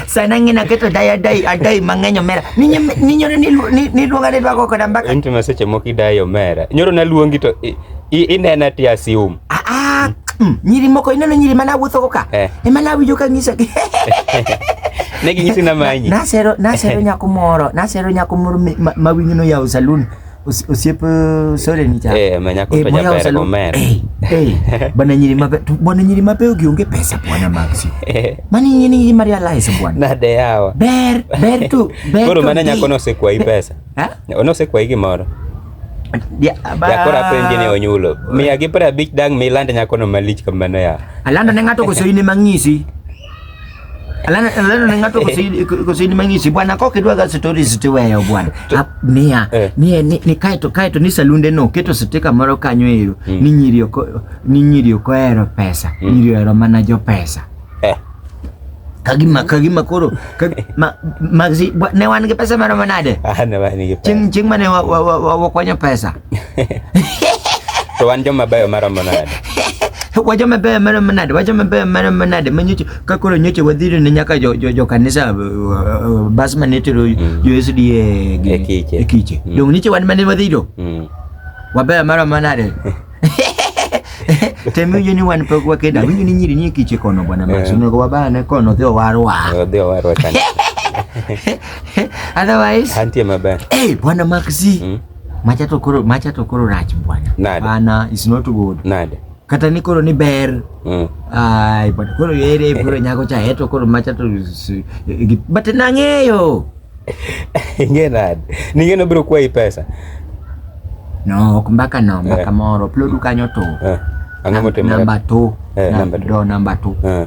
sana ngina keto daya dai adai mang'eny omera ninyoro niluonga ni dwago koda mbaka inti maseche moko idai omera nyoro naluongi to inena ti asium ah, ah, mm, nyiri moko ineno nyiri mana awuothogo ka eh. ema nawinjo ka ng'isogi ne ginyisi namanyi nasero nasero nyako moro nasero nyako moro mawinyono yawo salun osiep uh, sore ni cha eh manya ko to jaber go mer eh, eh bana nyiri mabe bwana nyiri mabe ugionge pesa bwana maxi eh. mani nyini nyiri maria lies bwana na de yawa ber ber tu ber koro mana nyako no se kwa i pesa ha ono se kwa i gimoro jakora penje ne onyulo miya gi pra bich dang mi lande nyako no malich kamano ya alando ne ng'ato koso in ema ng'isi Alana alana na ngatu kusini kusini mangishi bwana koke dwa ga story zitiweyo bwana. To- Ap- Mia Eh. mia ni ni kaito kaito ni salunde no keto sitika moro kanyo ero Mm. ni nyiri oko ni nyiri oko ero pesa Mm. nyiri ero mana jo pesa. Eh. Kagima kagima koro kag, ma, magzi bwa- ne wan gi pesa maro manade. Ah, na ba ni ke pa. Ching ching mane wa wa wa, wa, wa kwanyo pesa. to wan joma beyo maromo nade wacho mabeyo mano manade wacho mabeyo mano manade ma nyocha ka koro nyocha wadhiro ne nyaka jo, jo, jo kanisa uh, bas mane tero mm. jo SDA gi e kiche, e kiche. Mm. dong nyocha wan mane wadhiro mm. wabeyo mano manade temi winjo ni wan pok wakeda winjo ni nyiri nie kiche kono bwana Max eh. onego wabane kono dhi owarwa dhi owarwa otherwise antie maber eh hey, bwana Maxi mm. Macha to koro macha to koro rach bwana. Nada. Bana is not good. Nada. Kata ni koro ni ber. Mm. Ai, but koro yere bro nyako cha heto koro macha to but nang'eyo. Inge nada. Ninge no bro kwa hii pesa. No, kumbaka no, mbaka yeah. moro. Plodu kanyo to. Yeah. Ang'amo timo. Namba to. Yeah, namba to. Namba to. Yeah.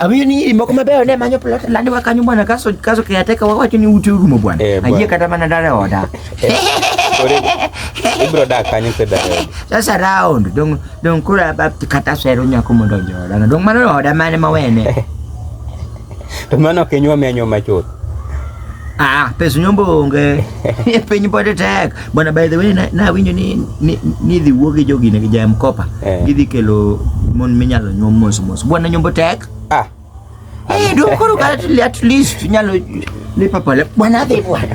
Abiyo ni imo kuma beo ne manyo plot landi wakanyo bwana kaso kaso ke ateka wawacho ni uti urumo bwana. Eh, Ayie kata mana dare oda. Ibro da kanyo ke dare. Sasa round dong dong kura bab kata sero nyako mondo joda. Dong mano oda mane mawene. To mano ok inyuom ya nyuom machuth. Ah, pes nyombo onge. E piny pod tek. Bwana by the way na, na winyo ni ni, ni dhi wuo gi jogi ne gi jam kopa. Eh. Gidhi kelo mon minyalo nyuom mos mos. Bwana nyombo tek. Ah. Eh, do koro ka at least nyalo lipa pale. Bwana dhi bwana.